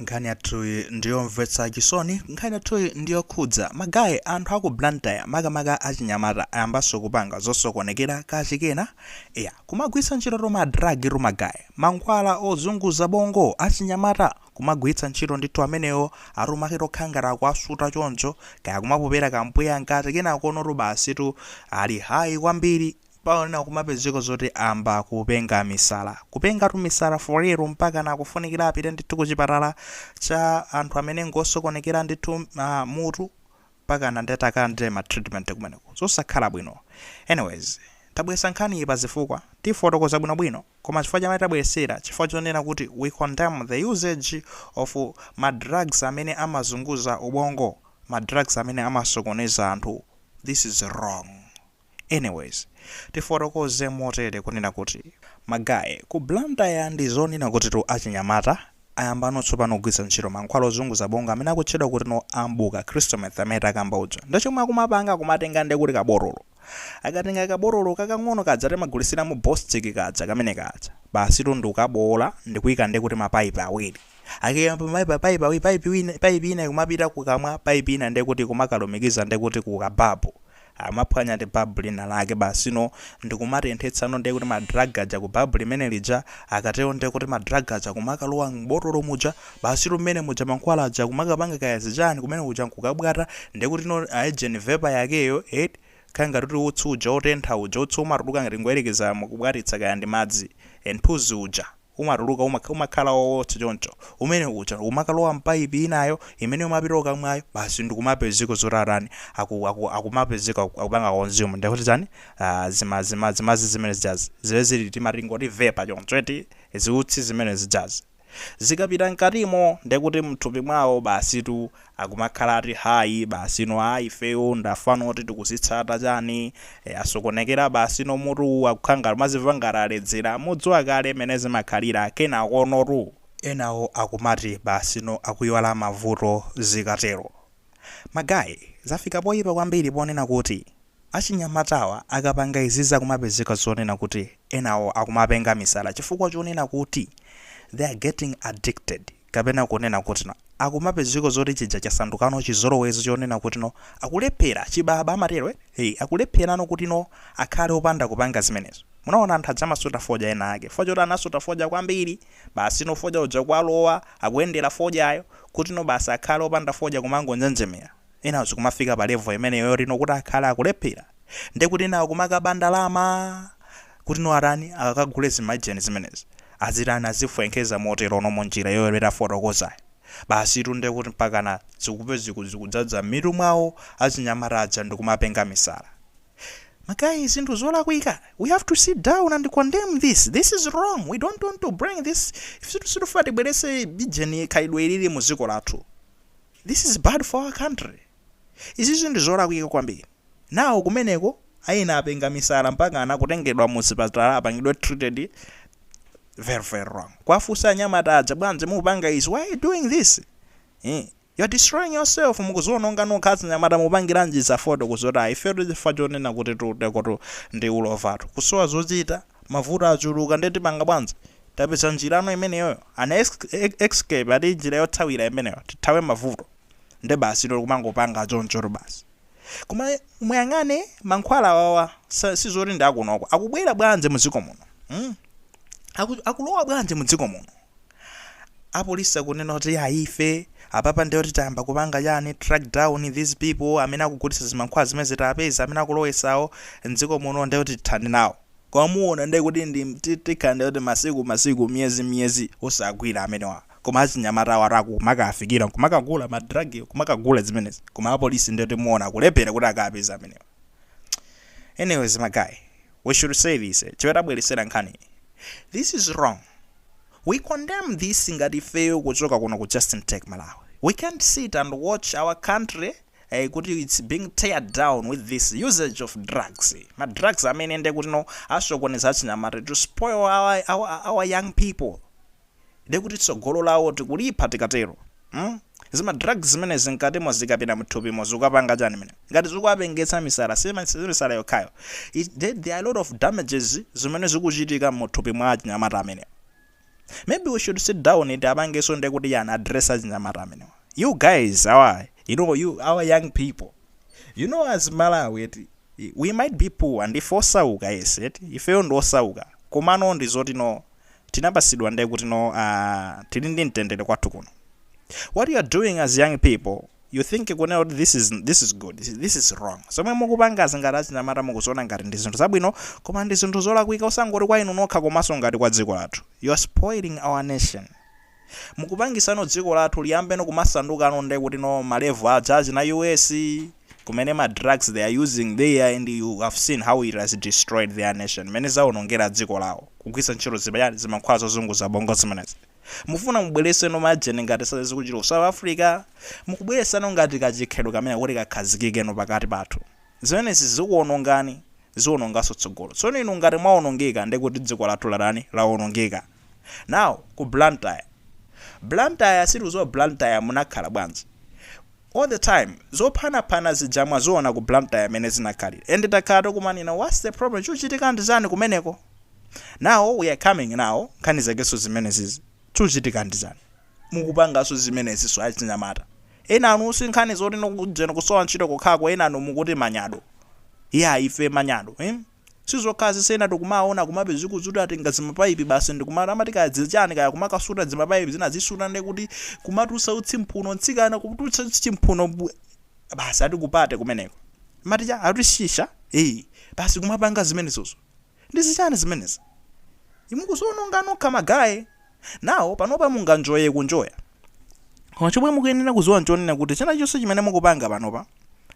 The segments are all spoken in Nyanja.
nkhani yathuyi ndiyomvetsa chisoni nkhani yathu ndiyokhudza magaye anthu aku blantyre makamaka achinyamata ayambanso kupanga zosokonekera kachikena eya kumagwiritsa ntchito tuma drug tu magaye mankhwala ozunguza bongo achinyamata kumagwiritsa ntchito ndithu amenewo ati tumake tokhala ngati akuwasuta choncho kaya kumapopera kampweya mkati kenakonotu basitu ali high kwambiri Pena kumapezeka zoti ayamba kupenga misala. Kupengatu misala for real mpakana akufunikira apite ndithu kuchipatala cha anthu amene ngosokonekera ndithu ah, mutu mpakana ndi atakalandire ma treatment kumeneko. Zosakhala bwino. Anyways, tabweretsa nkhaniyi pa zifukwa, tifotokoza bwinobwino koma chifukwa chamene tabweretsera chifukwa chonena kuti we condemn the usage of ma drugs amene amazunguza ubongo, ma drugs amene amasokoneza anthu. This is wrong. Anyways, tifotokoze motere kunena kuti ma guy ku Blantyre ndi zonena kutitu achinyamata ayambano tsopano kugwiritsa ntchito mankhwala ozunguza bongo amene akutchedwa kutino ambuka, crystal meth, amene akamba uja. Nde chomwe akumapanga akumatenga nde kuti kabotolo. Akatenga kabotolo kakang'ono kaja timagulitsira mu bostik kaja kamene kaja. Basitu ndikukaboola ndikuika nde kuti ma pipe awiri. Akaika ma pipe awiri, pipe wina, pipe ina ikumapita kukamwa, pipe ina nde kuti ikumakalumikiza nde kuti ku ka bulb. amaphwanya ati bulb lina lake basi no ndikumatenthetsa no ndekuti ma drug aja ku bulb limene lija akatero ndekuti ma drug aja kumakalowa m'botolo muja basitu mmene muja mankhwala aja kumakapanga kaya zichani kumeneko kuja nkukabwata ndekuti no ujeni vapor yakeyo eti kaya ngati kuti utsi uja otentha uja utsi umatuluka ngati ngoyerekeza mukubwatitsa kaya ndi madzi nthunzi uja umatuluka umakha, umakhala owotsa choncho, umene uja umakalowa mpaipi inayo imene imapita kukamwayo, basi ndikumapezeka zoti atani, aku, aku, akumapezeka aku- akupanga consume ndiye kuti chani, ah, zima, zima, zimadzi zimene zijazi, zimene zili tima tingoti vapor choncho eti, ziutsi zimene zijazi zikapita mkatimo ndiye kuti mthupi mwawo basitu akumakhala ati high basino aa ifeyo ndafana oti tikuzitsatsa chani ee asokonekera basino mutuwu akukhala ngati amazimva ngati aledzera mudziwa kale mene zimakhalira kenakonotu enawo akumati basino akuyiwala mavuto zikatero ma guy zafika poyipa kwambiri ponena kuti achinyamatawa akapanga izizi akumapezeka zonena kuti enawo akumapenga misala chifukwa chonena kuti they are getting addicted. kapena kunena kuti no akumapezeka zoti chija chasandukano chizolowezi chonena kuti no akulephela, chibaba amatelo eh, hey akulephelano kuti no akhale opanda kupanga zimenezo munaona anthu aja amasuta fodya ena ake chifukwa choti anasuta fodya kwambili basi no fodya uja kwalowa akuyendela fodyayo kuti no basi akhale opanda fodya kumangonjenjemela enawo zikumafika pa level imeneyo yoti no kuti akhale akulephela ndekuti ena akumakaba ndalama Kuti no atani? Akakagule zimaijeni zimenezi? Azitani? Azifwenkeza moterono mu njira yoyero tafotokozayo? Basi to nde kuti mpakana zikupe ziku zikudzadza mmitu mwawo achinyamata aja ndikumapenga misala. Ma guy zinthu zolakwika, we have to sit down and condemn this, this is wrong, we don't want to bring this, ife sitifuna tibweretse ijeni khalidwe ilili mu dziko lathu, this is bad for our country. Izizi ndi zolakwika kwambiri. Now kumeneko ena apenga misala mpakana kutengedwa mu zipatala apangidwe treated very very wrong. Kuwafunsa anyamata aja bwanji mupanga izi? Why you doing this? Eeh you are destroying yourself mukuziononga nokha achinyamata mupangiranji za fotokozi ati ayi ifetu chifukwa chonena kuti tutekotu ndi ulovatu. Kusowa zochita, mavuto achuluka nde tipanga bwanji? Tapeza njirano imeneyoyo? An escape ati njira yothawira imeneyo tithawe mavuto. nde basi to kumangopanga chonchotu basi koma muyang'ane mankhwala awawa sa- sizoti ndi akunoko akubwera bwanji mu dziko muno mm? Aku, akulowa bwanji mu dziko muno apolisi akunena kuti ah ife apapa ndiye kuti tayamba kupanga chani track down these people amene akugulitsa zimankhwala zimenezi tiapeze amene akulowesawo mdziko muno ndiye kuti tithane nawo Koma muona nde kuti ndi tikhala nde kuti masiku masiku miyezi miyezi osagwira amenewa koma achinyamata awatu akumakafikira nkumakagula ma drug kumakagula zimenezi koma apolisi nde kuti muona kulephera kuti akawapeze amenewa anyways ma guy we should say this chimene tabweretsera nkhani iyi this is wrong we condemn this ngati ifeyo kuchoka kuno ku Just Check Malawi we can't sit and watch our country eh, kuti it's being teared down with this usage of drugs ma drugs amene nde kuti no asokoneza achinyamata to spoil our, our, our young people nde kuti tsogolo lawo tikulipha tikatero hmm? zima drugs zimenezi nkatimo zikapita mthupimo zikapanga chani nanga ngati zikuwapengetsa misala si ma- si misala yokhayo It- there there are a lot of damages zimene zikuchitika muthupi mwa achinyamata amene Maybe we should sit down tiapangeso nde kuti chani address achinyamata amenewa. You guys our you know you our young people you know as Malawi eti we might be poor ndife osauka yes eti ifeyo ndi osauka komano ndi zoti no tinapasidwa nde kuti no ah tili ndi mtendere kwathu kuno. What you are doing as young people you think kunena kuti this is this is good this is wrong zomwe mukupangazi ngati achinyamata mukuziona ngati ndi zinthu zabwino koma ndi zinthu zolakwika osangoti kwa inu nokha komanso ngati kwa dziko lathu you are spoiling our nation mukupangisano dziko lathu liyambeno kumasandukano nde kuti no ma level aja achina US kumene ma drugs they are using there and you have seen how it has destroyed their nation mene zaonongera dziko lawo kugwisa ntchito zimaijeni zimankhwala zozunguza bongo zimenezi Mufuna mubweleseno majeni ngati za zikuchitika ku south africa? Mukubwelesano ngati ka chikhalidwe kameneka kuti kakhazikikeno pakati pathu? Zimenezi zikuonongani zionongaso tsogolo. Tsono inu ngati mwaonongeka ndiye kuti dziko lathu laonongeka. Now ku Blantyre. Blantyre sitikuziwa Blantyre munakhala bwanji? All the time zophanaphana zija mwaziona ku Blantyre mene zinakhalira and takhala tikumanena what's the problem? Chikuchitika ndi chani kumeneko? now we are coming now nkhani zakeso zimenezizi zikuchitika ndizani mukupangaso zimeneziso achinyamata enanu sinkhani zoti no kujeni kusowa ntchito kokhako enanu mukuti manyado ife manyado em sizokhazi zina tikumaona kuma bedzi kuti atenga zimapaipi basi ndikumata amati kaya zichani kaya kumakasuta zimapaipi zina zisuta ndekuti kumatusa utsi mphuno ntsikana kutulutsa utsi chimphuno bwe- basi ati kupate kumeneko maticha ati shisha eh basi kumapanga zimenezozo Ndizichani zimenezi? Mukuziononga nokha ma guy. Now panopa munganjoye kunjoya koma chomwe mukuyenera kuziwa nchonena kuti chinachonse chimene mukupanga panopa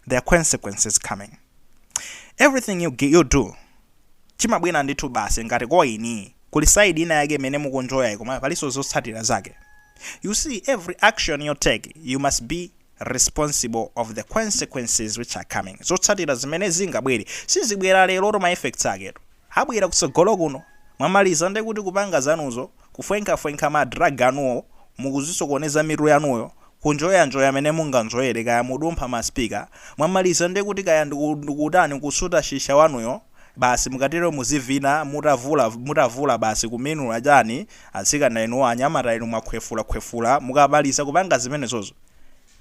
there are consequences coming. Everything you you do chimabwera ndithu basi ngati koini kuli side ina yake imene mukunjoyayi koma palinso zotsatira zake. You see every action you take you must be responsible of the consequences which are coming zotsatira zimene zingabwere sizibwera lerotu ma effects aketu abwera kutsogolo kuno mwamaliza nde kuti kupanga zanuzo kufwenkhafwenkha ma drug anuwo mukuzisokoneza mitu yanuyo kunjoyanjoya mene munganjoyere kaya mudumpha ma speaker mwamaliza nde kuti kaya ndiku ndikutani kusuta shisha wanuyo basi mukatero muzivina mutavula mutavula basi kumenula chani Atsikana inu anyamata inu mwakhwefula khwefula mukamaliza kupanga zimenezozo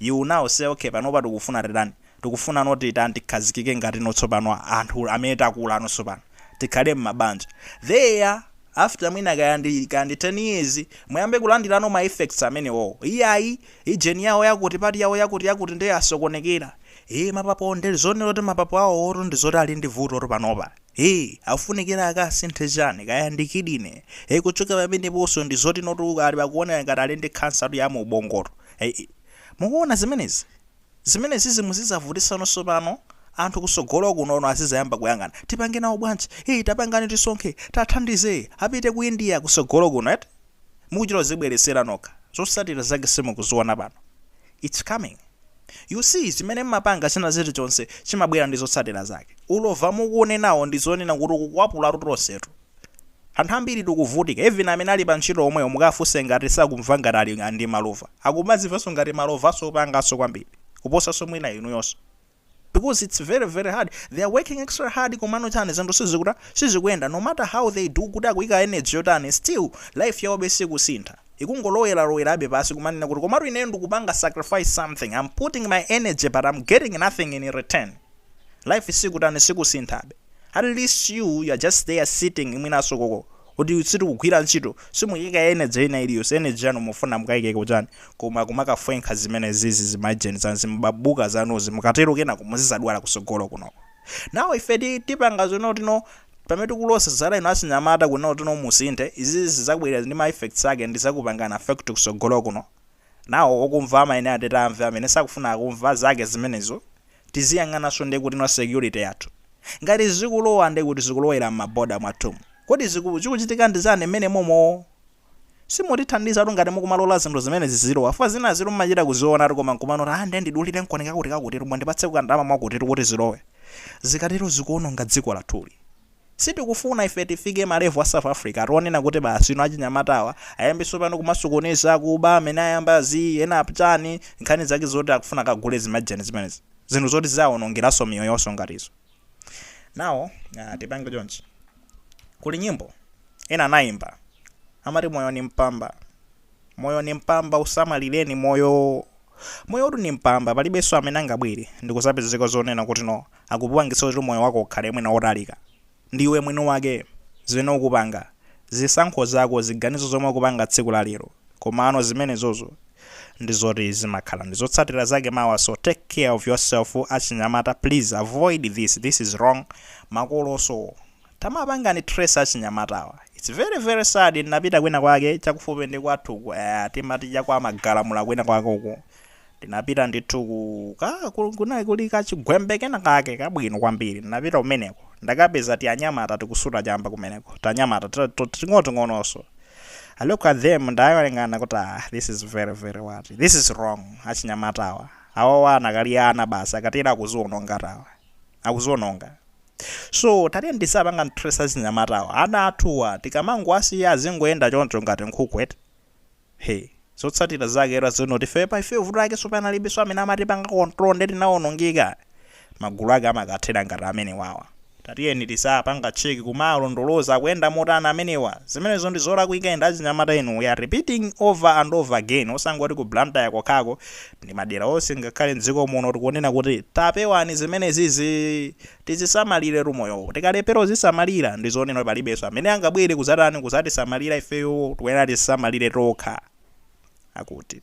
you will now say okay panopa tikufuna titani tikufunano titani tikhazikike ngatino tsopano anthu amene takulano tsopano tikhale mmabanja there after mwina kaya ndi kaya ndi 10 years muyambe kulandilano ma effects amenewowo iyayi ijeni yawo yakuti pati yawo yakuti yakuti nde asokonekera ee mapapo nde zonero kuti mapapo awowotu ndi zoti ali ndi vutotu panopa Hi, akufunikira akasinthe chani, kaya ndi kidney, he kuchokera pameneponso ndi zoti notu ali akuoneka ngati ali ndi khansatu ya mu ubongotu, he i, mukuona zimenezi, zimenezizi muzizavutisano tsopano, anthu kusogolo kunono azizayamba kuyang'ana, tipange nawo bwanji, hi tapangani tisonkhe, tathandize, apite ku India kusogolo kuno eti. mukuchita kuzibweretsera nokha, zotsatira zake simukuziona pano? Its coming. You see chimene mmapanga china chilichonse chimabwera ndi zotsatira zake. Ulova mukuunenawo ndi zonena kuti ukukwapulatu tonsetu. Anthu ambiri tikuvutika even amene ali pa ntchito omwewo mukafunse ngati sakumva ngati ali ndi malova. Akumazimvanso ngati malovanso kupanganso kwambiri kuposanso mwina inuyonso. because it's very very hard they are working extra hard komano chani zinthu sizikuta sizikuyenda no matter how they do kuti akuyika energy yotani still life yawobe sikusintha ikungolowelalowelabe pansi kumanena kuti komatu ineyo ndikupanga sacrifice something i'm putting my energy but i'm getting nothing in return life sikutani sikusinthabe at least you you're just there sitting mwinaso koko kuti simukugwira ntchito simukuyika energy ina iliyonseyi energy yanu mufuna mukayike ku chani koma kumakafwenkha zimenezizi zimajeni zanu zimbabuka zanuzi mukatero kenako muzizadwala kusogolo kunoko now ife ti tipanga zono tino pamene tikulosa zala ino achinyamata kuno tino musinthe izizi zizabwera ndi ma effects ake ndizakupangana affect kusogolo kuno Nawo okumva amayenera atati amve amene sakufuna kumva zake zimenezo. Tiziyang'ananso nde kuti ndi security yathu. Ngati zikulowa nde kuti zikulowera mma border mwathumu. Kodi ziku chikuchitika ndi chani mmenemomo? Simutithandizatu ngati mukumalola zinthu zimenezi zizilowa fukwa zinazitu mmachita kuzionatu koma nkumanena aah nde ndidulire nkoni kakutikakuti mundipatseko kandalama mwakutitu kuti zilowe. Zikatero zikuononga dziko lathuli. Sitikufuna ife tifike ma level a South Africa oti onena kuti basi inu achinyamatawa ayambe sopano kumasokoneza akuba amene ayamba zi ena kupanga chani nkhani zake zoti akufuna akagule zimajeni zimenezi zinthu zoti zizawaonongeranso miyoyo yawonso ngati izo now aah tipange chonchi kuli nyimbo ena anayimba amati moyo ni mpamba moyo ni mpamba usamalileni moyo moyotu ni mpamba palibenso amene angabwere ndikuzapezeka zonena kuti no akupangitsa kuti moyo wako ukhale mwina wotalika. Ndi iwe mwini wake, zimene ukupanga, zisankho zako, ziganizo zomwe ukupanga tsiku la lero. Komano zimenezozo ndi zoti zimakhala ndi zotsatira zake mawa so take care of yourself achinyamata please avoid this, this is wrong. Makolonso. Tamapangani trace achinyamatawa. It's very very sad ndinapita kwina kwake chakufupi ndi kwathu uku eya timati cha kwa magalamula kwina kwake uku ndinapita ndithu ku ka ku- kunali kuli kachigwembe kena kake kabwino kwambiri ndinapita kumeneko ndakapeza tianyamata tikusuta chamba kumeneko tanyamata ta- to- ting'onoting'ononso I look at them ndayang'ana kuti ah this is very very what this is wrong achinyamatawa awawa akadali ana basi akatera akuziononga tawa akuziononga So tatiyeni tiziwapanga trace achinyamatawa ana athuwa tikamangowasiya azingoyenda choncho ngati nkhuku eti he zotsatira zake taziona kuti ifeyo pa ifeyo vuto lake so panalibenso amene amatipanga control nde tinawonongeka magulu ake amakathera ngati amenewawa tatiyeni tiziwapanga check kumawalondoloza akuyenda motani amenewa zimenezo ndi zolakwika and achinyamata inu we are repeating over and over again osangoti ku Blantyre kokhako ndi madera onse ngakhale mdziko muno tikunena kuti tapewani zimenezizi tizisamaliretu moyowo tikalephera kuzisamalira ndi zonena palibenso amene angabwere kuzatani kuzatisamalira ifeyo tikuyenera tizisamalire tokha akuti